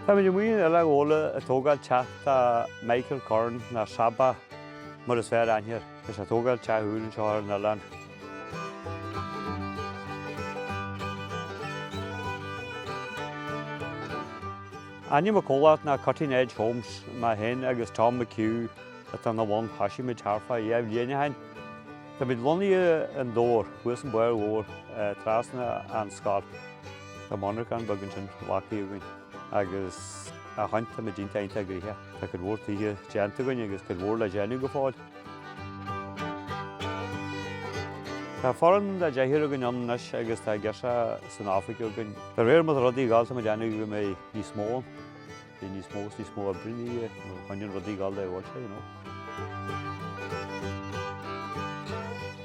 Tá muid amuigh in Oileán Ghabhla a tógáil teach do Michael Curran nó Sabba mar is fearr aithne air, is a tógáil teach úr anseo ar an oileán. Ainm a comhlacht ná Cutting Edge Homes, mé féin agus Tom McHugh atá ina bhun, thoisigh muid thart fá dheich mbliana ó shin. Tá muid lonnaithe i nDobhar, thuas an bóthar mór, trasna ón scoil. Tá monarchan beag ansin, factory againn, agus ó shin tá muid iontach iontach gnoitheach. Tá cuid mhór tithe déanta againn agus cuid mhór le déanamh go fóill. Tá foireann de deichniúr againn ann anois agus tá girseacha san oifig againn. De réir mar atá rudaí ag gabháil tá muid ag déanamh go mbeidh níos mó ann. Bhí níos mó is níos mó oibre in aois é, má choinníonn rudaí ag gabháil a bhfuil sé, you know.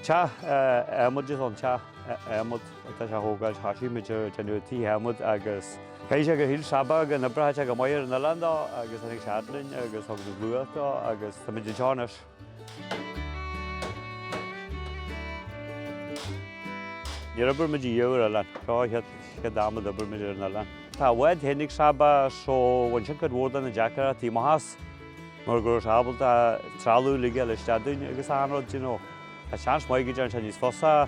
Teach adhmaid is ann, teach adhmaid atá sé a thógáil is thosaigh muid ag déanamh tithe adhmaid agus caithfidh sé gur shíl Sabba go n-oibreodh sé go maith ar an oileán dó agus tháinig sé a fhad linn agus thug muid luach dó agus tá muid anseo anois. Níor obair muid ariamh ar oileán. Seo an chéad am a d'obair muid ar an oileán. Tá a bhád féin ag Sabba so bhain sin cuid mhór de na deacrachtaí amach as mar go raibh sé ábalta trealamh uilig a fháil isteach dúinn agus achan rud, you know. Tá seans maith go ndéanann sé níos fusa.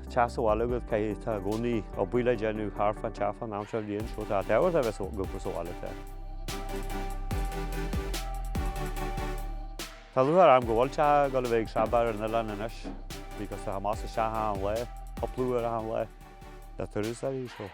Teach sa bhaile agat caithfidh tá i gcónaí obair le déanamh thart fán teach fán am seo bhliain seo tá Edward a bheith ag obair sa bhaile te. Tá lúcháir orm go bhfuil teach ag gabháil a bheith ag Sabba ar an oileán anois because tá sé amach is isteach achan lá, cúpla uair achan lá le turasóirí.